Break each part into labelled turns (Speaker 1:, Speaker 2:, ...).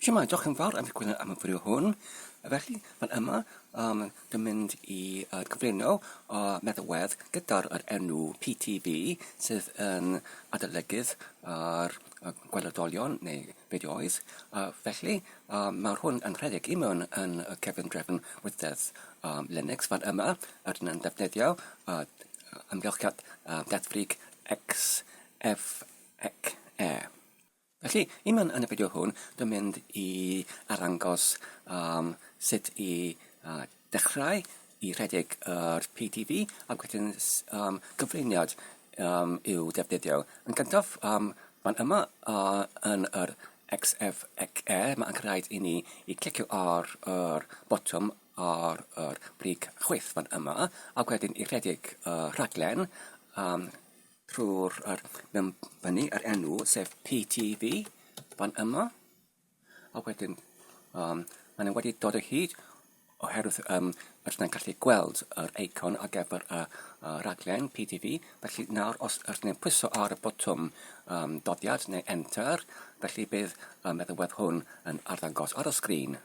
Speaker 1: Shwmae, diolch yn fawr am y gwneud am y fideo hwn. Felly, fan yma, um, dwi'n mynd i uh, cyflwyno o meddalwedd gyda'r er enw PTB sydd yn adolygydd ar uh, gweledolion neu fideoedd. Uh, felly, uh, mae hwn yn rhedeg i mewn yn y cefn drefn wythedd um, Linux fan yma. Rydyn yn defnyddio uh, amgylchiad uh, deddfrig XFXE. Felly, i mewn yn y fideo hwn, dwi'n mynd i arddangos um, sut i uh, dechrau i rhedeg yr PDB ac wedyn um, gyflwyniad um, i'w defnyddio. Yn gyntaf, um, fan yma uh, yn yr XFXE, mae'n rhaid i ni i clicio ar yr botwm ar yr brig chwith fan yma, ac wedyn i rhedeg y uh, rhaglen um, Rho'r ar mewn fyny yr enw sef PTV fan yma a wedyn um, maen nhw wedi dod o hyd oherwydd um, rydyn ni'n gallu gweld yr eicon ar gyfer y, y raglen PTV. Felly nawr os rydyn ni'n pwyso ar y botwm um, doddiad neu enter, felly bydd um, y ddiwedd hwn yn arddangos ar y sgrin.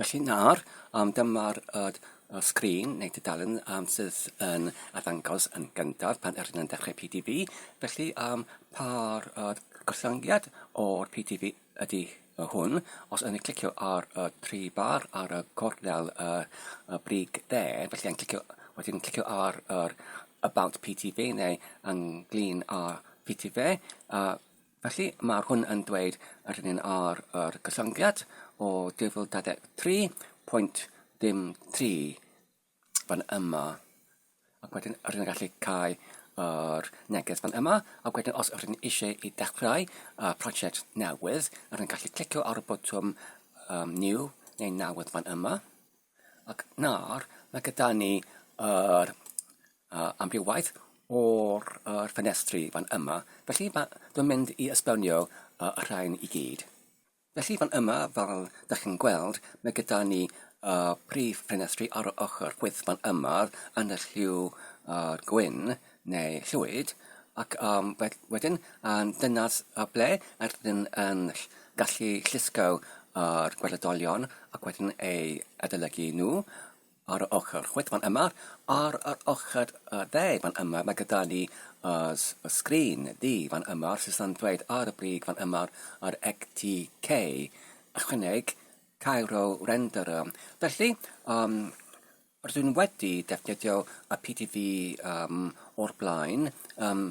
Speaker 1: Felly nawr yym dyma'r yr y sgrin neu dudalen yym sydd yn arddangos yn gyntaf pan yr yn dechrau PDB felly yym pa yr yr gostyngiad o'r PDB ydi yy hwn os o'n i'n clicio ar y tri bar ar y gornel yy y brig dde felly yn clicio wedyn yn clicio ar yr about PDB neu ynglŷn â PDB yy Felly, mae hwn yn dweud yr un un ar yr gyllyngiad o 2023.03 fan yma. Ac wedyn, yr un gallu cael yr neges fan yma, ac wedyn os yr un eisiau i dechrau uh, prosiect newydd, yr un gallu clicio ar y botwm um, new neu newydd fan yma. Ac nawr, mae gyda ni yr uh, amrywaeth o'r uh, ffenestri fan yma. Felly ma, dwi'n mynd i esbonio uh, y rhain i gyd. Felly fan yma, fel da chi'n gweld, mae gyda ni uh, prif ffenestri ar y ochr chwith fan yma yn y lliw uh, gwyn. neu llwyd, ac um, wedyn um, dyna uh, ble ydyn yn gallu llusgo ar gweledolion ac wedyn ei adolygu nhw ar y ochr chwith fan yma, ar yr ochr uh, dde fan yma, mae gyda ni uh, sgrin di fan yma, sydd yn dweud ar y brig fan yma, ar ECTK, ychwaneg Cairo Renderer. Felly, um, Rydyn wedi defnyddio y PTV um, o'r blaen, um,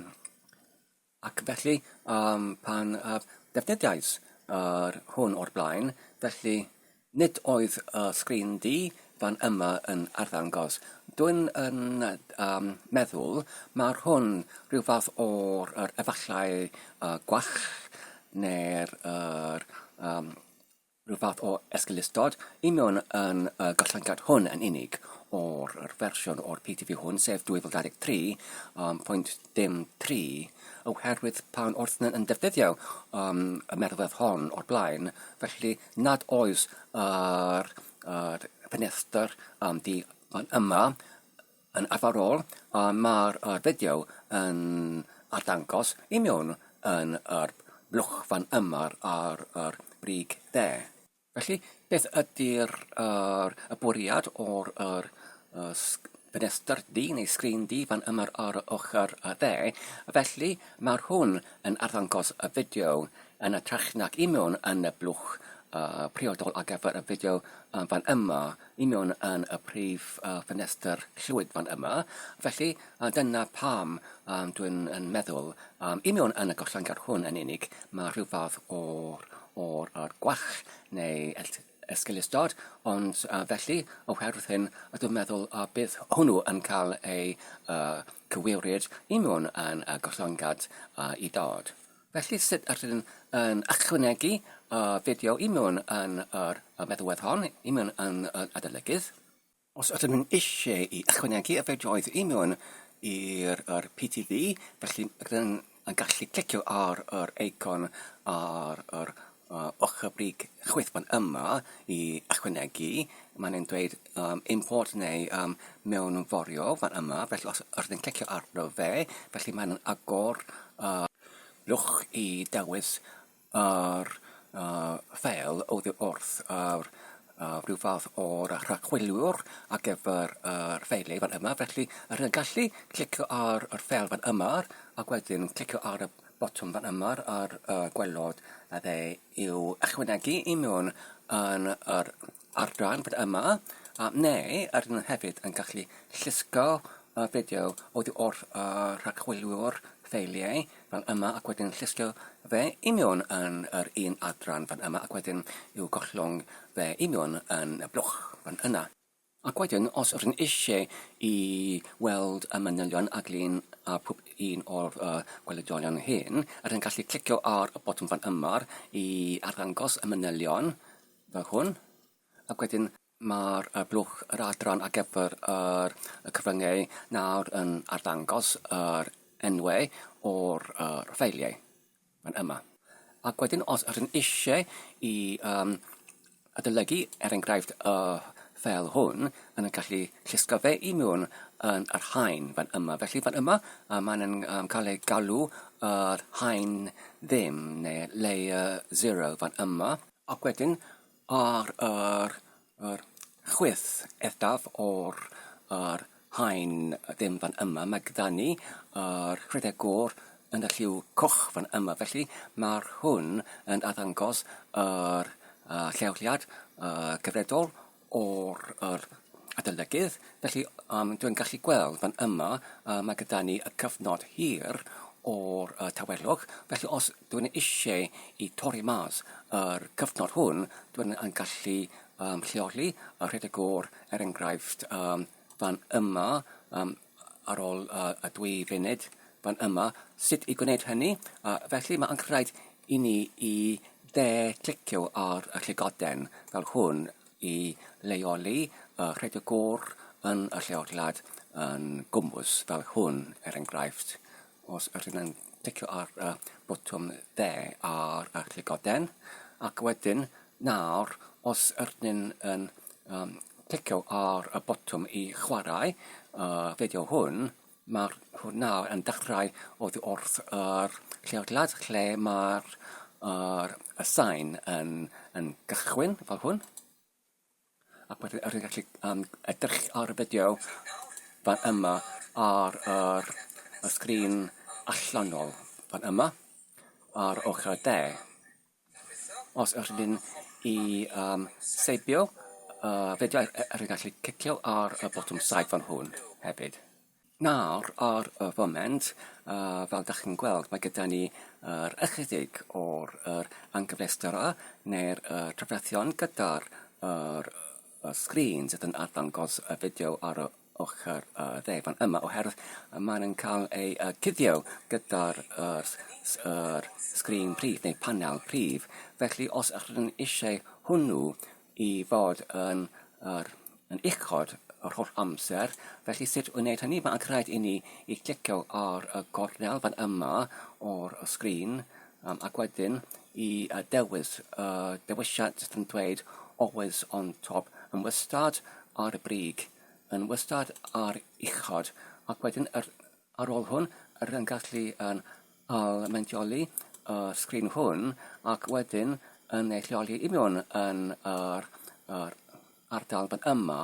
Speaker 1: ac felly um, pan uh, defnyddiais yr uh, hwn o'r blaen, felly nid oedd y sgrin di fan yma yn arddangos. Dwi'n yn um, meddwl mae'r hwn rhyw fath o'r er efallai uh, gwach neu'r er, um, Rhyw fath o esgeulustod, union yn y gostyngiad hwn yn unig o'r yr fersiwn o'r PTV hwn, sef 2023, um, pwynt dim tri, oherwydd pan wrth yn defnyddio um, y merwedd hon o'r blaen, felly nad oes yr, yr ffenestr um, di fan yma, Yn arferol, mae'r fideo yn arddangos i mewn yn yr blwch fan yma ar yr brig dde. Felly, beth ydy'r yr y bwriad o'r yr y ffenestr du neu sgrin du fan yma ar y ochr y dde? Felly, mae'r hwn yn arddangos y fideo yn y trach nag i mewn yn y blwch uh, priodol ar gyfer y fideo uh, fan yma union yn y prif uh, ffenestr llwyd fan yma. Felly, uh, dyna pam um, dwi'n yn meddwl, um, union yn y gollangar hwn yn unig, mae rhyw fath o'r, or, or gwach neu esgilistod, ond uh, felly, oherwydd hyn, a dwi'n meddwl a uh, bydd hwnnw yn cael ei uh, cywiwryd union yn y uh, gollangad uh, i dod. Felly sut yr ydyn yn ychwanegu uh, fideo i mewn yn yr uh, meddwedd hon, i mewn yn yr uh, adolygydd. Os ydyn nhw'n eisiau i ychwanegu y fideoedd i mewn i'r er, PTV, felly rydyn yn gallu clicio ar yr eicon ar yr Ochr y brig chwith fan yma i ychwanegu, mae'n e'n dweud yym import neu yym mewnforio fan yma, felly os os ni'n clicio arno fe, felly mae'n agor yy lwch i dewis yr yy ffeil oddi wrth yr yy rhyw fath o'r rhagchwiliwr ar gyfer yr ffeil ei fan yma, felly rwy'n gallu clicio ar yr ffeil fan yma ac wedyn clicio ar y botwm fan yma ar y gwelod a fe yw ychwanegu i mewn yn yr ardran fan yma a neu ar nhw hefyd yn gallu llusgo y fideo o ddi wrth y rhagchwiliwr ffeiliau fel yma ac wedyn llusgo fe i mewn yn yr un adran fan yma ac wedyn i'w gollwng fe i mewn yn y blwch fan yna. Ac wedyn, os rŷn eisiau i weld y manylion a glin ar pob un o'r uh, gwelediolion hyn, rydyn gallu clicio ar y botwm fan yma i arddangos y manylion fel hwn, ac wedyn mae'r uh, blwch yr adran ar gyfer yr, y cyfryngau nawr yn arddangos yr enwau o'r uh, ffeiliau. Mae'n yma. Ac wedyn os ydyn eisiau i um, adolygu, er enghraifft, y ffel hwn, yn y gallu llusgo fe i mewn yn yr hain fan yma. Felly fan yma, uh, mae'n um, cael ei galw yr hain ddim, neu layer 0 fan yma. Ac wedyn, Ar yr yr chwith eithaf o'r yr haen ddim fan yma mae gyda ni yr rhedeg gor yn y lliw coch fan yma felly mae'r hwn yn addangos yr uh, lleoliad uh, gyfredol o'r yr adolygydd Felly, um, dwi'n gallu gweld fan yma, uh, mae gyda ni y cyfnod hir o'r uh, tawelwch. Felly, os dwi'n eisiau i torri mas yr cyfnod hwn, dwi'n yn gallu um, lleoli a rhedeg o'r, er enghraifft, um, fan yma, um, ar ôl uh, y dwy funud, fan yma, sut i gwneud hynny. Uh, felly, mae'n rhaid i ni i dde clicio ar y llygoden fel hwn i leoli y rhedeg gôr yn y lleoliad yn gwmws fel hwn, er enghraifft, os ydyn yn ticio ar y botwm dde ar y llygoden, ac wedyn nawr os ydyn yn um, ticio ar y botwm i chwarae y fideo hwn, Mae'r hwn nawr yn dechrau oddi wrth yr lleoliad lle mae'r yr y sain yn yn gychwyn fel hwn. Ac wedyn yr gallu um, edrych ar y fideo fan yma ar yr y sgrin allanol fan yma ar ochr y de. Os ydyn ni am seibio yy fideo e- e- rwy'n gallu cicio ar y botwm saib fan hwn hefyd. Nawr ar y foment yy fel dach chi'n gweld mae gyda ni yr ychydig o'r yr anghyfleusterau neu'r yy trafferthion gyda'r yr y sgrin sydd yn arddangos y fideo ar y ochr y dde fan yma oherwydd mae'n yn cael ei uh, cuddio gyda'r er, er sgrin prif neu panel prif. Felly os ydych chi'n eisiau hwnnw i fod yn, er, yn uchod yr holl amser, felly sut wneud hynny? Mae'n rhaid i ni i clicio ar y gornel fan yma o'r sgrin Um, ac wedyn i uh, dewis y uh, dewisiad jyst yn dweud always on top, yn wastad ar y brig, yn wastad ar uchod, ac wedyn yr, ar ôl hwn, yr yn gallu yn almendioli y uh, sgrin hwn, ac wedyn yn ei lleoli i mewn yn yr, yr a'r dalfa yma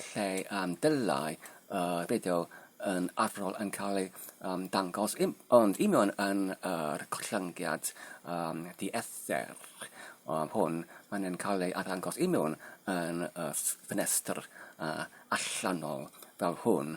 Speaker 1: lle um, dylai uh, fideo yn arferol yn cael ei um, dangos, im, ond union yn yr uh, collyngiad um, diethr um, hwn, mae'n yn cael ei arddangos union yn y uh, ffenestr uh, allanol fel hwn.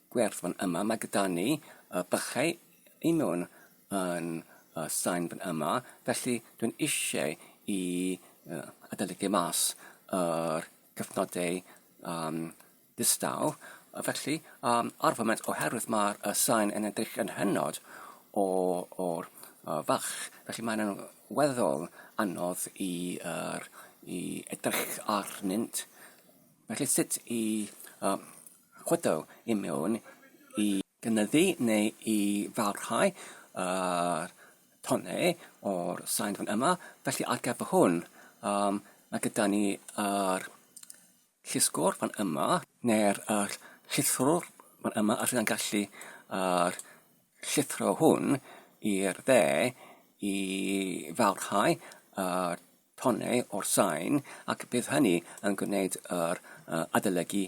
Speaker 1: gwerth fan yma. Mae gyda ni uh, bychau i mewn yn uh, sain fan yma, felly dwi'n eisiau i uh, adolygu mas yr cyfnodau um, distaw. Felly, um, ar foment, oherwydd mae'r uh, sain yn edrych yn hynod o'r uh, fach, felly mae'n weddol anodd i, uh, i edrych arnynt. Felly sut i uh, Chwythu i mewn i gynyddu neu i barhau yr tonnau o'r sain fan yma. Felly ar gyfer hwn, um, mae gyda ni yr llusgwr fan yma, neu'r er, llithrwr fan yma, a rydyn gallu yr llithro hwn i'r dde i farhau yr tonnau o'r sain ac bydd hynny yn gwneud yr adolygu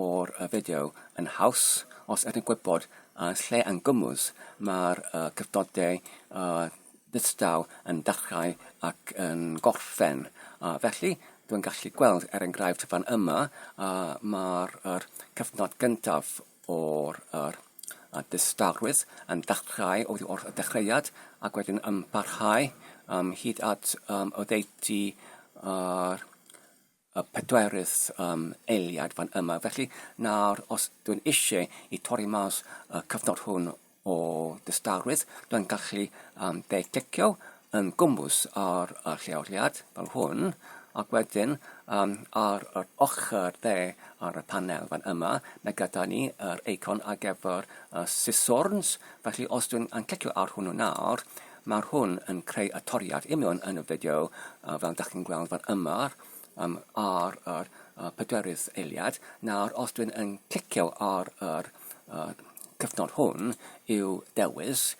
Speaker 1: o'r fideo yn haws os ydyn gwybod yn lle yn gwmws mae'r cyfnodau distaw yn dechrau ac yn gorffen. Felly, dwi'n gallu gweld er enghraifft fan yma mae'r cyfnod gyntaf o'r a dystawrwydd yn dechrau oddi wrth y dechreuad ac wedyn yn parhau um, hyd at um, oddeutu ar y pedwerydd um, eiliad fan yma. Felly nawr, os dwi'n eisiau i torri mas y cyfnod hwn o dystawrwydd, dwi'n gallu um, deud clicio yn gwmws ar y lleoliad fel hwn, ac wedyn um, ar yr ochr dde ar y panel fan yma, mae gyda ni yr eicon ar gyfer y siswrns, felly os dwi'n yn clicio ar hwnnw nawr, mae'r hwn yn creu y toriad union yn y fideo uh, fel da chi'n gweld fan yma, um, ar yr uh, pedwerydd eiliad. Nawr, os dwi'n yn clicio ar yr uh, cyfnod hwn i'w dewis,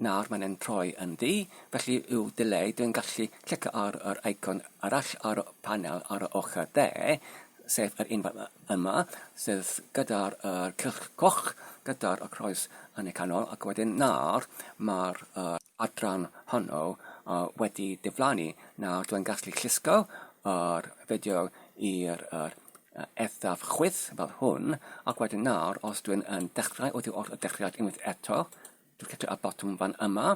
Speaker 1: Nawr mae'n yn troi yn ddu, felly i'w dileu dwi'n gallu clicio ar yr eicon arall ar y panel ar yr ochr dde, sef yr un yma, sef gyda'r er cylch coch, gyda'r er croes yn y canol, ac wedyn nawr mae'r er adran honno uh, wedi diflannu. Nawr dwi'n gallu llusgo yr er fideo i'r er eithaf chwith fel hwn, ac wedyn nawr, os dwi'n yn dechrau oddi wrth y dechreuad unwaith eto, clicio y botwm fan yma,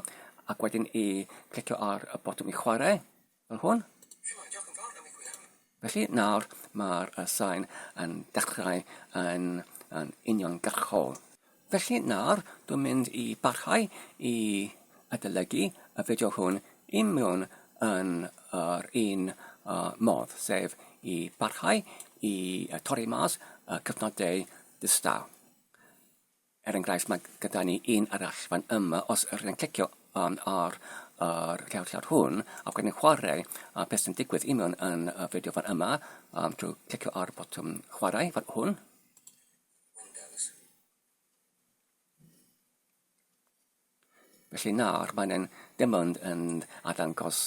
Speaker 1: ac wedyn i clicio ar y botwm i chwarae, fel hwn. Felly nawr mae'r sain yn dechrau yn, yn uniongyrchol. Felly nawr dwi'n mynd i barhau i adolygu y fideo hwn i mewn yn yr un uh, modd, sef i barhau i torri mas y cyfnodau distaw. Er enghraifft, mae gyda ni un arall fan yma, os ydych chi'n clicio um, ar yr cerdded hwn, a bod yn chwarae, a beth sy'n digwydd i mewn yn y fideo fan yma, um, drwy clicio ar botwm chwarae fan hwn. Felly nawr mae'n ein dim ond yn arddangos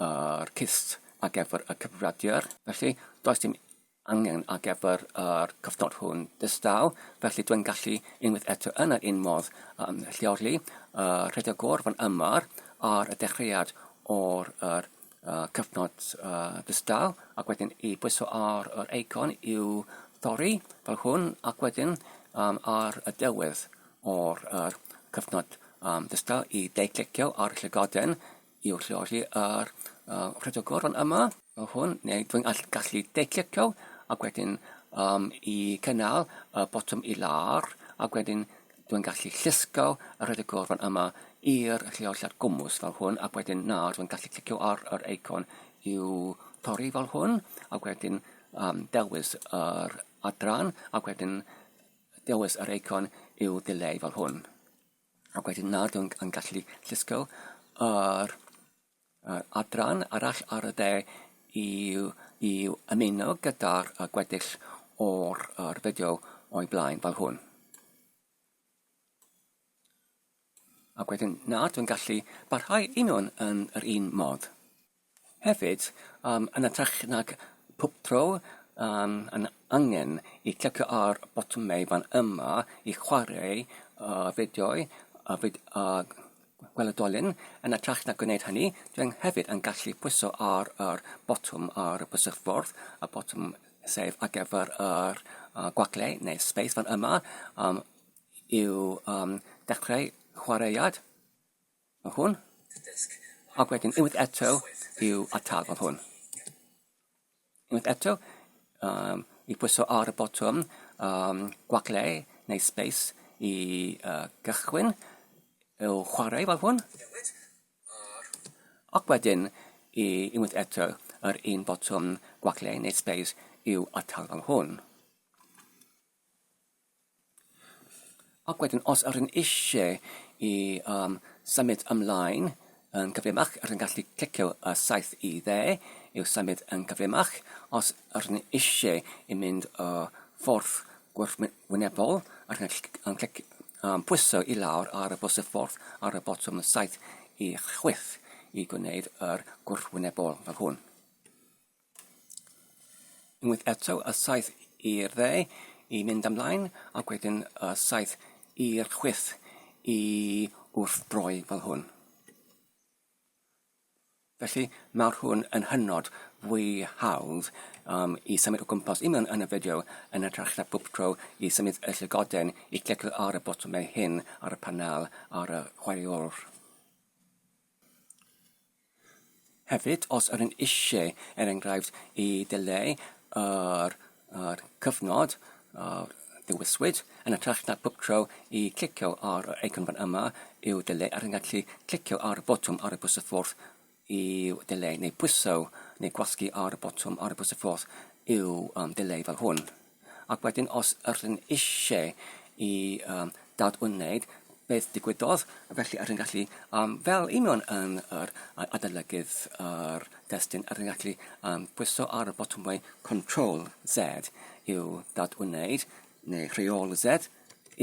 Speaker 1: yr cyst ar gyfer y cyfrifiadur. Felly does dim angen ar gyfer yr cyfnod hwn distaw, felly dwi'n gallu unwaith eto yn yr un modd um, lleoli y rhedegwr fan yma ar y dechreuad o'r uh, cyfnod uh, ddistaw ac wedyn i bwyso ar yr eicon i'w thorri fel hwn ac wedyn um, ar y dewedd o'r er, cyfnod um, ddistaw i deiclicio ar y llygoden i'w lleoli ar uh, rhedygwr fan yma fel hwn neu dwi'n gallu deiclicio ac wedyn um, i cynnal y botwm i lar ac wedyn Dwi'n gallu llusgo a rhoed y gorfan yma i'r lleoliad gwmws fel hwn ac wedyn nawr dwi'n gallu clicio ar yr eicon i'w torri fel hwn ac wedyn um, dewis yr adran ac wedyn dewis yr eicon i'w ddileu fel hwn. Ac wedyn nawr dwi'n gallu llusgo yr Adran arall ar y de yw i ymuno gyda'r gweddill o'r fideo o'i blaen fel hwn. Ac wedyn na dwi'n gallu barhau un o'n yn yr un modd. Hefyd, um, yn ytrach nag pob tro um, yn angen i clicio ar botymau fan yma i chwarae uh, fideo'i a, fid, a Gweledolyn, yn ytrach na gwneud hynny, dwi hefyd yn gallu pwyso ar yr botwm ar y bysydffordd, y botwm sef ar gyfer yr uh, gwagle neu space fan yma um, i'w um, dechrau chwaraead. Mae hwn. Ac wedyn unwaith eto i'w atal fel hwn. Unwaith eto, um, i pwyso ar y botwm um, gwacle neu space i uh, gychwyn i'w chwarae fel hwn. Ac wedyn, i unwaith eto, yr un botwm gwacle neu space i'w atal fel hwn. Ac wedyn os yr un eisiau i um, symud ymlaen yn gyflymach, yr un gallu clicio y saith i dde i'w symud yn gyflymach. Os yr un eisiau i mynd y ffordd gwrthwynebol, yr un yn clic, um, pwyso i lawr ar y bws y ffordd ar y botwm saith i chwyth i gwneud yr gwrthwynebol fel hwn. Unwaith eto, y saith i'r dde i fynd ymlaen, ac wedyn y saith i'r chwith i wrthdroi fel hwn. Felly mae'r hwn yn hynod fwy hawdd um, i symud o gwmpas i mewn yn y fideo yn y na bob tro i symud y llygoden i clicio ar y botwmau hyn ar y panel ar y chwaraewr. Hefyd, os ydyn ni eisiau, er enghraifft, i ddileu yr yr cyfnod a ddewiswyd, yn hytrach na bob tro i clicio ar yr eicon fan yma i'w ddileu, rydyn ni'n gallu clicio ar y botwm ar y bws y ffordd i'w ddileu, neu pwyso neu gwasgu ar y botwm ar y bws y ffordd i'w um, ddileu fel hwn. Ac wedyn os ydyn eisiau i um, dadwneud beth digwyddodd, felly ydyn gallu, um, fel union yn yr adolygydd yr destun, ydyn gallu um, pwyso ar y botwmau Control Z i'w dadwneud, neu Rheol Z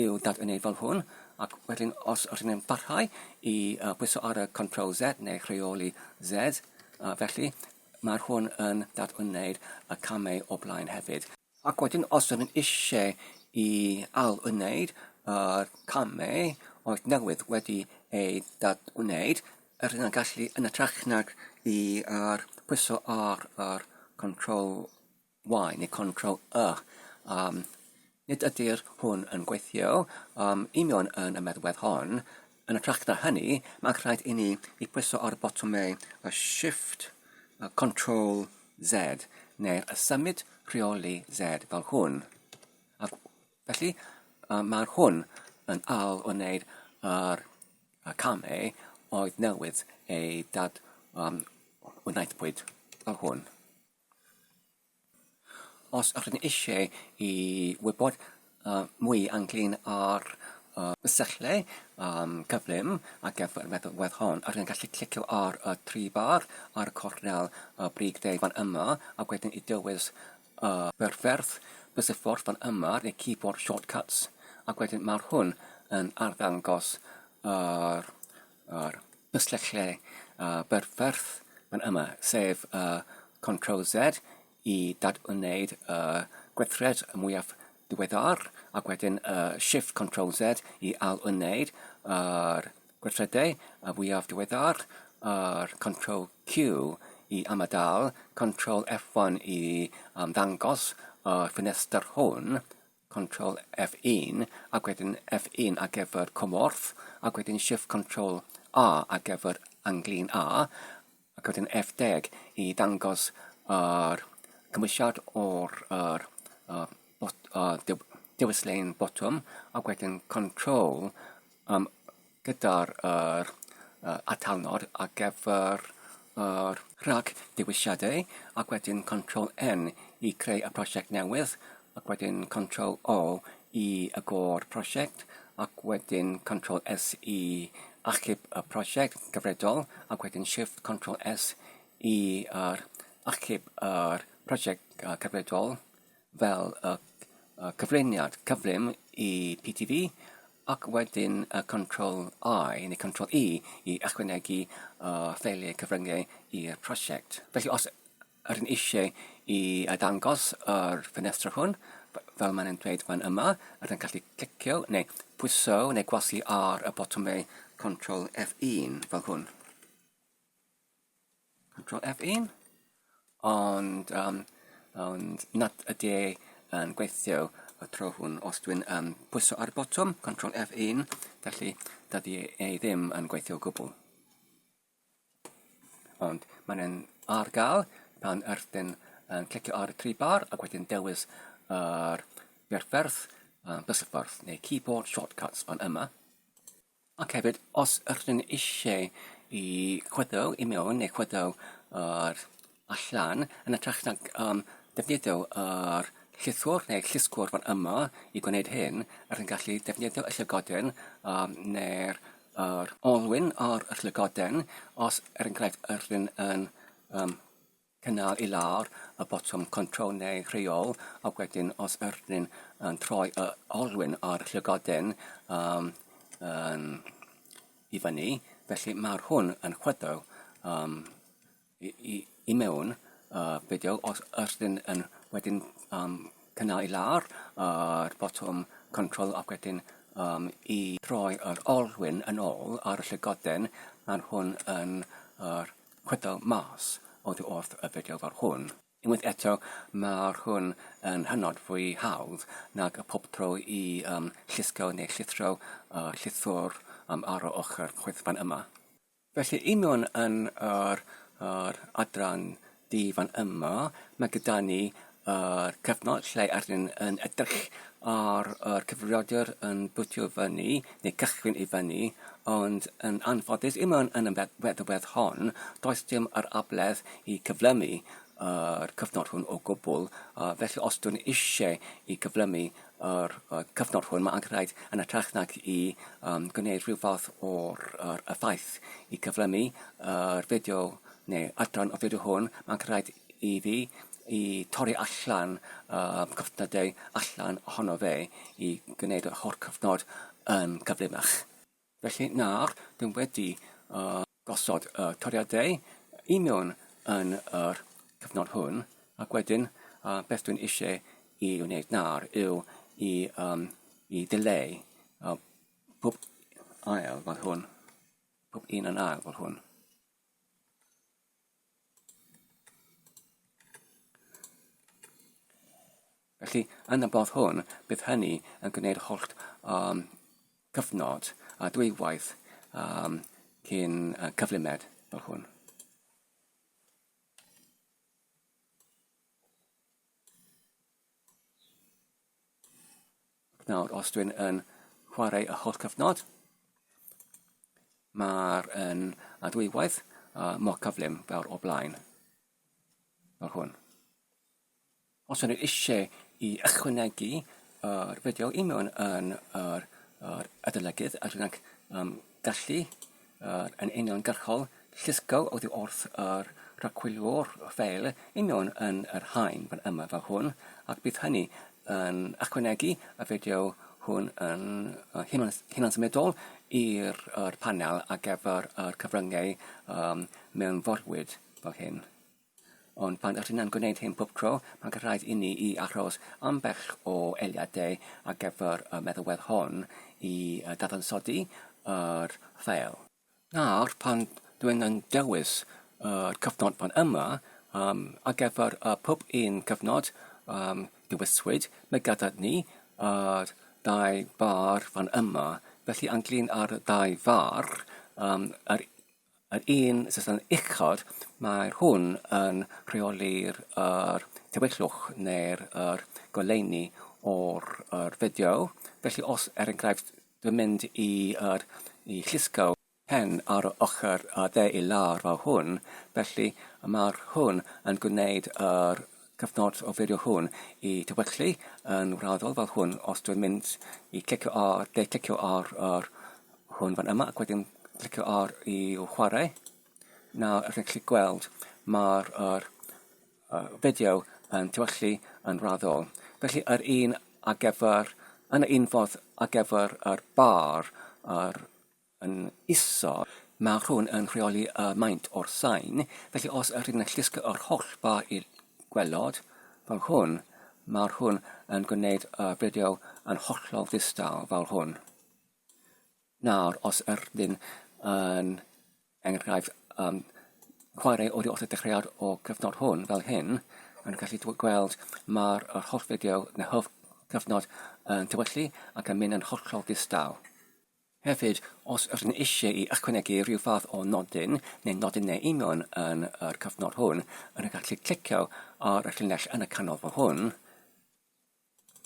Speaker 1: i'w dadwneud fel hwn, ac wedyn os ydyn yn parhau i uh, pwyso ar y Control Z neu Rheoli Z, uh, felly Mae hwn yn dadwneud y camau o blaen hefyd. Ac wedyn os ydyn eisiau i ail-wneud y camau oedd newydd wedi ei dadwneud, yr yna gallu yn y trachnad i ar pwyso ar yr control Y neu control y. Um, nid ydyr hwn yn gweithio um, union yn y meddwedd hon. Yn y tracta hynny, mae'n rhaid i ni i pwyso ar botomau y shift, y control Z, neu'r y symud rheoli Z fel hwn. A felly, um, mae'r hwn yn al o wneud yr y camau oedd newydd ei dad um, wnaethpwyd fel hwn. Os ydych chi eisiau gwybod mwy ynglŷn â'r syllau cyflym ar gyfer y nodwedd hon, ydych chi'n gallu clicio ar y tri bar ar y cornel brig de fan yma, a wedyn i dywys y perffordd, bysuffordd fan yma, neu keyboard shortcuts, ac wedyn mae hwn yn arddangos yr... a'r pysyllau a berffordd yn yma, sef y Control Z i dad-wneud y gweithred mwyaf diweddar, ac wedyn y Shift Control Z i ail-wneud yr gweithredau y fwyaf diweddar, a'r Control Q i ymadael, Control F1 i ymddangos y ffenestr hwn, Control F1 ac wedyn F1 ar gyfer cymorth ac wedyn Shift Control A ar gyfer anglin A ac wedyn F10 i dangos yr cymwysiad o'r er, uh, bot, uh, dewis lein botwm ac wedyn Control um, gyda'r yr yy atalnod ar gyfer yr rhagdewisiadau ac wedyn control N i creu y prosiect newydd ac wedyn control O i agor prosiect ac wedyn control S i achub y prosiect gyfredol ac wedyn shift control S i yr achub yr prosiect yy cyfredol fel y y cyflwyniad cyflym i PTV ac wedyn y Control I neu Control E i ychwanegu o ffeiliau cyfryngau i'r prosiect. Felly os ydyn eisiau i ddangos yr ffenestr hwn, fel mae'n yn dweud fan yma, ydyn gallu clicio neu pwyso neu gwasu ar y botwmau Control F1 fel hwn. Control F1 ond um, ond nad ydy e yn gweithio y tro hwn os dwi'n um, pwyso ar y botwm Control F1 felly dydy e ddim yn gweithio o gwbl ond mae'n e'n ar gael pan yrthyn yn clicio ar y tri bar ac wedyn dewis yr uh, berfferth uh, bysffordd neu keyboard shortcuts fan yma Ac hefyd, os ydych chi'n eisiau i chwyddo i mewn neu chwyddo o'r allan, yn ytrach na um, defnyddio yr llythwr neu llysgwr fan yma i gwneud hyn, rydych chi'n gallu defnyddio y llygoden um, neu'r yr olwyn o'r llygoden os er enghraifft ydych chi'n yn um, Cynnal i lawr y botwm control neu rheol ac wedyn os ydyn yn troi y olwyn o'r llygoden um, um, i fyny, felly mae'r hwn yn chwyddo um, i, i, i mewn uh, fideo os ydyn yn wedyn um, cynnal i lawr yr uh, botwm control ac wedyn um, i troi yr olwyn yn ôl ar y llygoden, mae'r hwn yn yr uh, chwedl mas oddi wrth y fideo fel hwn. Unwaith eto, mae'r hwn yn hynod fwy hawdd nag y pob tro i um, llusgo neu llithro uh, llithwr um, ar o ochr chwithfan yma. Felly, i mewn yn yr, yr adran di fan yma, mae gyda ni yr cyfnod lle rydyn ni'n yn edrych ar yr cyfrifiadur yn bwtio fyny neu cychwyn i fyny ond yn anffodus i mewn yn y feddwedd hon does dim yr abledd i cyflymu yr cyfnod hwn o gwbl uh, felly os dwi'n eisiau i gyflymu yr uh, cyfnod hwn mae angen rhaid yn y trach nag i um, gwneud rhyw fath o'r er, effaith i cyflymu yr uh, fideo neu adran o fideo hwn mae'n rhaid i fi i torri allan y cyfnodau allan ohono fe i gwneud yr holl cyfnod yn gyflymach. Felly nawr dyn wedi uh, gosod y toriadau i mewn yn yr cyfnod hwn ac wedyn uh, beth dwi'n eisiau i wneud nawr yw i, um, i dileu uh, pob ail fel hwn, pob un yn ail fel hwn. Felly, yn y bodd hwn, bydd hynny yn gwneud holl um, cyfnod a dwywaith um, cyn uh, cyflymed fel hwn. Nawr, os dwi'n yn chwarae y holl cyfnod, mae'r yn a dwywaith uh, mor cyflym fel o blaen. Fel hwn. Os ydych eisiau i ychwanegu yr fideo i mewn yn yr, yr adolygydd, a dwi'n um, gallu Yr yn uniongyrchol, llusgo oddi wrth yr rhagwylio'r ffeil union yn yr haen fan yma fel hwn, ac bydd hynny yn ychwanegu y fideo hwn yn hunan, hunan symudol i'r panel ar gyfer yr cyfryngau um, mewnforwyd fel hyn. Ond pan ydyn yn gwneud hyn pob tro, mae'n rhaid inni i aros ambell o eiliadau ar gyfer y meddalwedd hon i ddadansoddi yr ffeil. Nawr, pan dwi'n yn dewis yr cyfnod fan yma, um, ar gyfer y pob un cyfnod um, dewiswyd, mae gyda ni yr dau far fan yma, felly anglyn ar y dau far, um, yr Yr un system uchod, mae hwn yn rheoli'r yr tywyllwch neu'r yr goleuni o'r yr fideo. Felly os er enghraifft dwi'n mynd i yr i llusgo pen ar y ochr y de i lawr fel hwn, felly ma'r hwn yn gwneud yr cyfnod o fideo hwn i dy weglu yn wraddol fel hwn os dwi'n mynd i clicio ar, de clicio ar, ar hwn fan yma ac wedyn clicio ar i o chwarae. Nawr rydych chi'n gweld mae'r er, er, fideo yn tywellu yn wraddol. Felly yr un ar gyfer, yn y un fodd ar gyfer yr bar, yr yn isel, mae hwn yn rheoli y maint o'r sain, felly os ydych yn llusgo yr holl ba i gwelod, fel hwn, mae hwn yn gwneud y fideo yn hollol ddistaw fel hwn. Nawr, os ydych yn enghraifft um, chwarae o'r wrth y dechreuad o gyfnod hwn fel hyn, yn gallu gweld mae'r holl fideo neu holl cyfnod yn tywyllu ac yn mynd yn hollol ddistaw. Hefyd, os ydych yn eisiau i ychwanegu rhyw fath o nodyn neu nodynau union yn yr cyfnod hwn, yn y gallu clicio ar y llinell yn y canol fel hwn,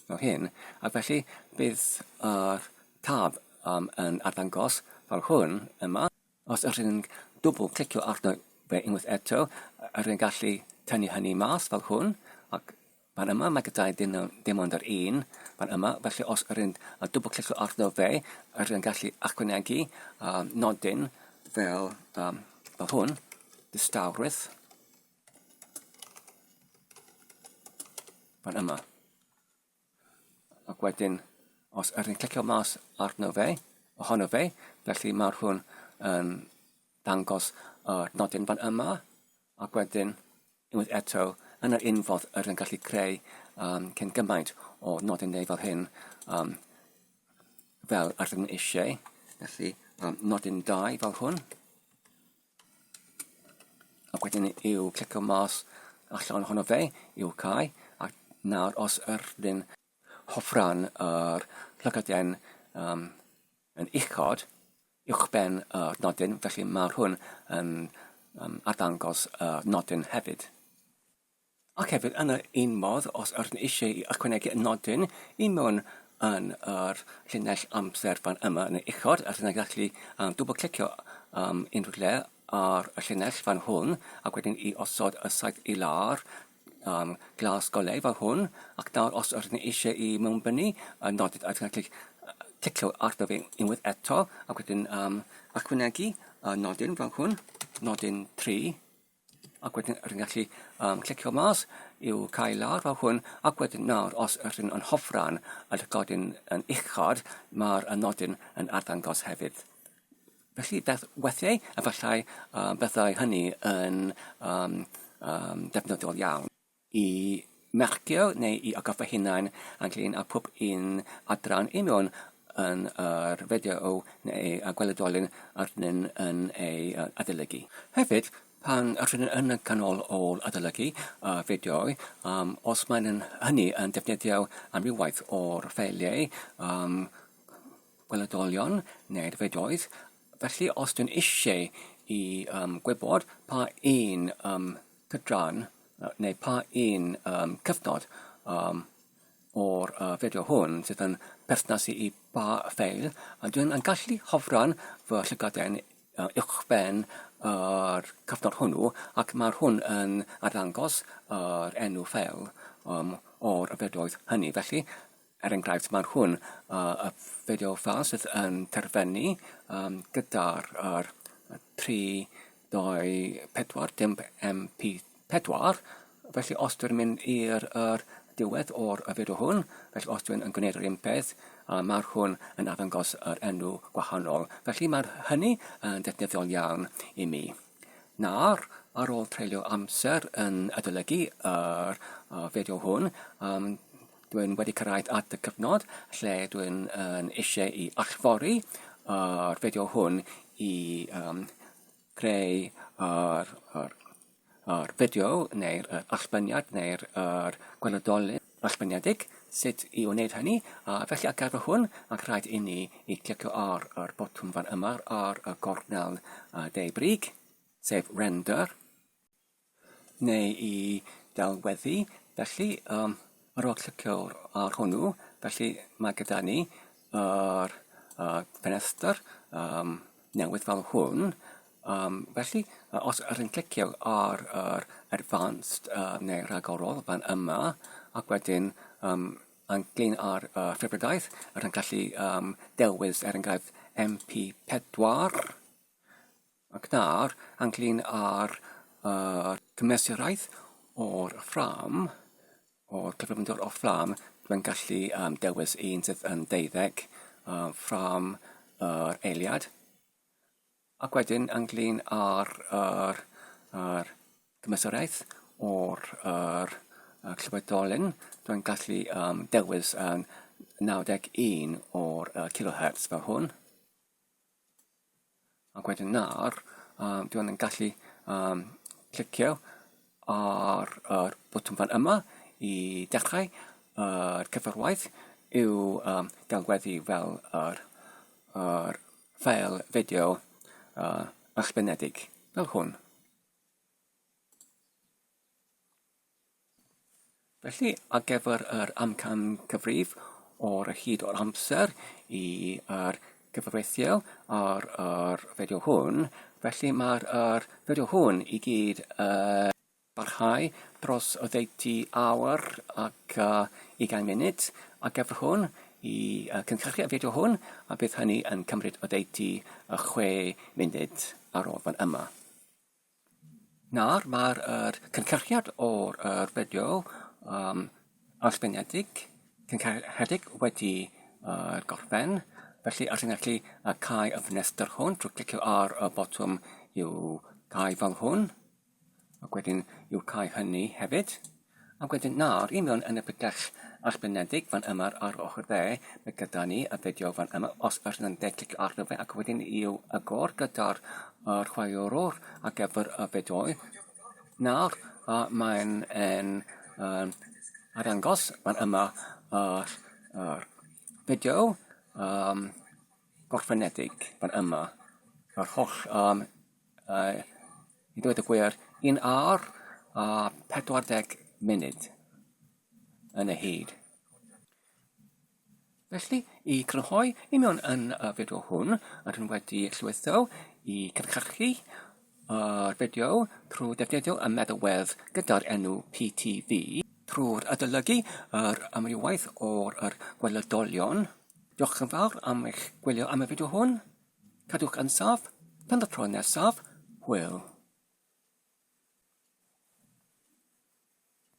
Speaker 1: fel hyn, ac felly bydd yr tab um, yn arddangos fel hwn yma. Os ydych chi'n dwbl clicio arno fe unwaith eto, ydych chi'n gallu tynnu hynny mas fel hwn, ac fan yma mae gyda'i ddim, ddim ond yr un fan yma, felly os ydych chi'n dwbl clicio arno fe, ydych chi'n gallu achwanegu um, nodyn fel, um, fel hwn, distawrwydd, fan yma. Ac wedyn, os ydych chi'n clicio mas arno fe, ohono fe, felly mae'r hwn yn dangos y uh, nodyn fan yma, ac wedyn, unwaith eto, yn yr unfodd yr yn gallu creu um, cyn gymaint o nodyn neu fel hyn, um, fel yr yn eisiau. Felly, um, nodyn 2 fel hwn, Ac wedyn i'w clicio mas allan ohono fe, i'w cael, ac nawr os ydyn hofran yr llygoden um, yn uchod, uwchben y uh, nodyn, felly mae hwn yn um, arddangos y uh, nodyn hefyd. Ac hefyd, yn yr un modd, os ydyn ni eisiau ychwanegu nodyn i mewn yn yr llinell amser fan yma yn y uchod, a dyna gallu um, dwbl clicio um, unrhyw le ar y llinell fan hwn, ac wedyn i osod y saith i lawr, um, glas golau fan hwn, ac nawr os ydyn ni eisiau i mewn byny, y nodyn a dyna gallu clicio arno fe unwaith eto, ac wedyn um, ychwanegu y nodyn fan hwn, nodyn 3, ac wedyn rwy'n gallu um, clicio mas i'w cael lawr fel hwn, ac wedyn nawr, os rwy'n yn hofran y llygodyn yn uchod, mae'r nodyn yn arddangos hefyd. Felly, beth weithiau, efallai uh, bethau hynny yn um, um, defnyddiol iawn. i mercio neu i agor fy hunain ynglyn â pob un adran i mewn yn yr fideo neu a gweledolyn arnyn yn ei adolygu. Hefyd, pan rydyn yn y canol ôl adolygu y fideoau, um, os maen hynny yn defnyddio amrywaith o'r ffeiliau um, gweledolion neu'r fideoedd, felly os dwi'n eisiau i um, gwybod pa un um, cydran neu pa un um, cyfnod um, o'r uh, fideo hwn sydd yn perthnasu i ba ffeil a dwi'n yn gallu hofran fy llygaden uh, uwchben yr uh, cyfnod hwnnw ac mae'r hwn yn arddangos yr uh, enw ffeil um, o'r yfedoedd hynny. Felly, Er enghraifft, mae hwn, uh, y fideo ffeil sydd yn terfynu um, gyda'r er, 324 dim MP4, felly os dwi'n mynd i'r er, diwedd o'r y fideo hwn, felly os dwi'n yn gwneud yr un peth, uh, mae hwn yn arddangos yr enw gwahanol. Felly mae hynny yn ddefnyddiol iawn i mi. Nawr, ar ôl treulio amser yn adolygu yr fideo hwn, dwi'n wedi cyrraedd at y cyfnod lle dwi'n eisiau i allfori yr fideo hwn i greu yr fideo neu'r allbyniad neu'r gweledolen. Esboniedig, sut i wneud hynny, a felly ar gyfer hwn, mae'n rhaid i ni i glicio ar yr botwm fan yma ar y gornel de brig, sef Render, neu i delweddu, felly um, ar ôl clicio ar hwnnw, felly mae gyda ni yr uh, ffenestr um, newydd fel hwn. Um, felly, os yr yn clicio ar yr advanced uh, neu rhagorol fan yma, ac wedyn um, yn glin ar uh, ffefrydaeth, yr yn gallu um, dewis er enghraifft MP4, ac nawr yn glin ar uh, cymesuraeth o'r ffram, O gyflymder o fflam, mae'n gallu um, dewis un sydd yn deuddeg um, ffram yr eiliad. Ac wedyn, ynglyn â'r er, er gymysoriaeth o'r er, er clywedolyn, dwi'n gallu um, dewis yn 91 o'r uh, kilohertz fel hwn. Ac wedyn nawr, um, dwi yn gallu um, clicio ar yr botwm fan yma i dechrau yr uh, cyfarwaith i'w um, galweddu fel yr, yr ffeil fideo uh, ysgrifenedig, fel hwn. Felly, ar gyfer yr amcan cyfrif o'r hyd o'r amser i'r gyfreithiol ar yr fideo hwn, felly mae'r yr fideo hwn i gyd yn parhau dros oddeutu awr ac uh, ugain munud ar gyfer hwn i uh, cynhyrchu y fideo hwn a bydd hynny yn cymryd oddeutu uh, chwe munud ar ôl fan yma. Nawr mae'r er, cynhyrchiad o'r er fideo um, annibyniedig, cynhyrchiedig wedi uh, gorffen, felly ar chi'n gallu uh, cael y ffenestr hwn trwy clicio ar y botwm i'w cael fel hwn, ac wedyn i'w cael hynny hefyd. Ac wedyn nawr i mewn yn y pydell arbenedig fan yma ar ochr dde, mae gyda ni y fideo fan yma, os ydych yn dde clicio arno fe ac wedyn i'w agor gyda'r uh, chwaraewr ar gyfer y fideoau. Nawr uh, mae'n yn um, arangos fan yma yr uh, uh, fideo um, gorffenedig fan yma, yr holl um, Yy, i ddweud y gwir, un awr a 40 munud yn y hyd. Felly, i grynhoi i mewn yn y fideo hwn, rydyn wedi llwytho i cynhyrchu yr fideo trwy defnyddio y meddalwedd gyda'r enw PTV, trwy'r adolygu yr amrywaeth o'r gwelydolion. Diolch yn fawr am eich gwylio am y fideo hwn. Cadwch yn saff, tan y tro nesaf, hwyl.